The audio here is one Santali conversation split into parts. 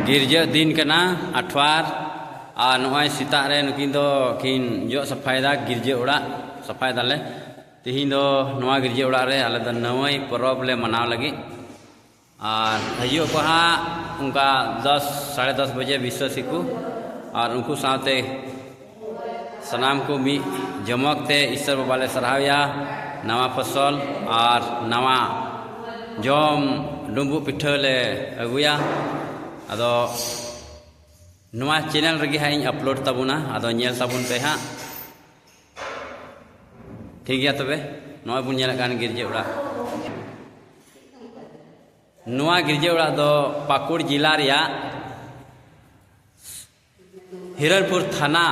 ᱜᱤᱨᱡᱟᱹ ᱫᱤᱱ ᱠᱟᱱᱟ ᱟᱴᱷᱣᱟᱨ ᱟᱨ ᱱᱚᱜᱼᱚᱭ ᱥᱮᱛᱟᱜ ᱨᱮ ᱱᱩᱠᱤᱱ ᱫᱚ ᱠᱤᱱ ᱡᱚᱜ ᱥᱟᱯᱷᱟᱭᱮᱫᱟ ᱜᱤᱨᱡᱟᱹ ᱚᱲᱟᱜ ᱥᱟᱯᱷᱟᱭ ᱫᱟᱞᱮ ᱛᱮᱦᱮᱧ ᱫᱚ ᱱᱚᱣᱟ ᱜᱤᱨᱡᱟᱹ ᱚᱲᱟᱜ ᱨᱮ ᱟᱞᱮ ᱫᱚ ᱱᱟᱹᱣᱟᱹᱭ ᱯᱚᱨᱚᱵᱽ ᱞᱮ ᱢᱟᱱᱟᱣ ᱞᱟᱹᱜᱤᱫ ᱟᱨ ᱦᱤᱡᱩᱜ ᱟᱠᱚ ᱦᱟᱸᱜ ᱚᱱᱠᱟ ᱫᱚᱥ ᱥᱟᱲᱮ ᱫᱚᱥ ᱵᱟᱡᱮ ᱵᱤᱥᱥᱟᱹᱥᱤ ᱠᱚ ᱟᱨ ᱩᱱᱠᱩ ᱥᱟᱶᱛᱮ ᱥᱟᱱᱟᱢ ᱠᱚ ᱢᱤᱫ ᱡᱚᱢᱚᱠ ᱛᱮ ᱤᱥᱚᱨ ᱵᱟᱵᱟ ᱞᱮ ᱥᱟᱨᱦᱟᱣᱮᱭᱟ ᱱᱟᱣᱟ ᱯᱷᱚᱥᱚᱞ ᱟᱨ ᱱᱟᱣᱟ ᱡᱚᱢ ᱰᱩᱸᱵᱩᱜ ᱯᱤᱴᱷᱟᱹ ᱞᱮ ᱟᱹᱜᱩᱭᱟ ᱟᱫᱚ ᱱᱚᱣᱟ ᱪᱮᱱᱮᱞ ᱨᱮᱜᱮ ᱦᱟᱸᱜ ᱤᱧ ᱟᱯᱞᱳᱰ ᱛᱟᱵᱚᱱᱟ ᱟᱫᱚ ᱧᱮᱞ ᱛᱟᱵᱚᱱ ᱯᱮ ᱦᱟᱸᱜ ᱴᱷᱤᱠ ᱜᱮᱭᱟ ᱛᱚᱵᱮ ᱱᱚᱜᱼᱚᱭ ᱵᱚᱱ ᱧᱮᱞᱮᱫ ᱠᱟᱱ ᱜᱤᱨᱡᱟᱹ ᱚᱲᱟᱜ ᱱᱚᱣᱟ ᱜᱤᱨᱡᱟᱹ ᱚᱲᱟᱜ ᱫᱚ ᱯᱟᱹᱠᱩᱲ ᱡᱮᱞᱟ ᱨᱮᱭᱟᱜ ᱦᱤᱨᱚᱱᱯᱩᱨ ᱛᱷᱟᱱᱟ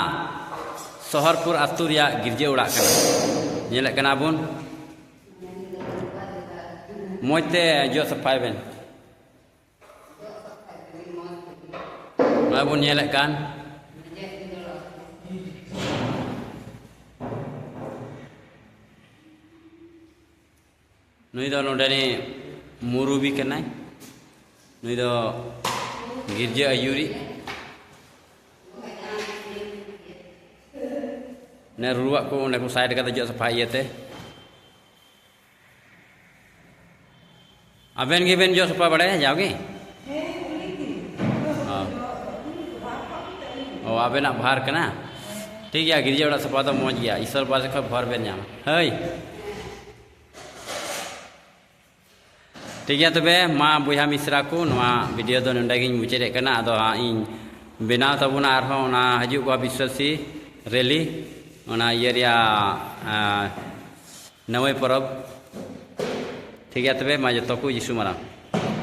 ᱥᱚᱦᱚᱨᱯᱩᱨ ᱟᱛᱳ ᱨᱮᱭᱟᱜ ᱜᱤᱨᱡᱟᱹ ᱚᱲᱟᱜ ᱠᱟᱱᱟ ᱧᱮᱞᱮᱫ ᱠᱟᱱᱟ ᱵᱚᱱ ᱢᱚᱡᱽ ᱛᱮ ᱡᱚᱜ ᱥᱟᱯᱷᱟᱭ ᱵᱮᱱ ᱱᱚᱜᱼᱚᱭ ᱵᱚᱱ ᱧᱮᱞᱮᱫ ᱠᱟᱱ ᱱᱩᱭ ᱫᱚ ᱱᱚᱰᱮ ᱨᱮ ᱢᱩᱨᱩᱵᱤ ᱠᱟᱱᱟᱭ ᱱᱩᱭ ᱫᱚ ᱜᱤᱨᱡᱟᱹ ᱟᱹᱭᱩᱨᱤ ᱱᱮ ᱨᱩᱣᱟᱜ ᱠᱚ ᱚᱸᱰᱮ ᱠᱚ ᱥᱟᱭᱤᱰ ᱠᱟᱛᱮ ᱡᱚᱜ ᱥᱟᱯᱷᱟ ᱤᱭᱟᱹᱛᱮ ᱟᱵᱮᱱ ᱜᱮᱵᱮᱱ ᱡᱚᱜ ᱥᱟᱯᱷᱟ ᱵᱟᱲᱟᱭᱟ ᱡᱟᱣᱜᱮ ᱚ ᱟᱵᱮᱱᱟᱜ ᱵᱷᱟᱨ ᱠᱟᱱᱟ ᱴᱷᱤᱠ ᱜᱮᱭᱟ ᱜᱤᱨᱡᱟᱹ ᱚᱲᱟᱜ ᱥᱟᱯᱷᱟ ᱫᱚ ᱢᱚᱡᱽ ᱜᱮᱭᱟ ᱤᱥᱚᱨ ᱵᱟᱥ ᱠᱷᱚᱡ ᱵᱷᱚᱨ ᱵᱮᱱ ᱧᱟᱢᱟ ᱦᱟᱹᱭ ᱴᱷᱤᱠ ᱜᱮᱭᱟ ᱛᱚᱵᱮ ᱢᱟ ᱵᱚᱭᱦᱟ ᱢᱤᱥᱨᱟ ᱠᱚ ᱱᱚᱣᱟ ᱵᱷᱤᱰᱤᱭᱳ ᱫᱚ ᱱᱚᱰᱮ ᱜᱤᱧ ᱢᱩᱪᱟᱹᱫᱮᱫ ᱠᱟᱱᱟ ᱟᱫᱚ ᱦᱟᱸᱜ ᱤᱧ ᱵᱮᱱᱟᱣ ᱛᱟᱵᱚᱱᱟ ᱟᱨᱦᱚᱸ ᱚᱱᱟ ᱦᱤᱡᱩᱜ ᱠᱚᱣᱟ ᱵᱤᱥᱣᱟᱥᱤ ᱨᱮᱞᱤ ᱚᱱᱟ ᱤᱭᱟᱹ ᱨᱮᱭᱟᱜ ᱱᱟᱹᱣᱟᱹᱭ ᱯᱚᱨᱚᱵᱽ ᱴᱷᱤᱠ ᱜᱮᱭᱟ ᱛᱚᱵᱮ ᱢᱟ ᱡᱚᱛᱚ ᱠᱚ ᱡᱤᱥᱩ ᱢᱟᱨᱟᱝ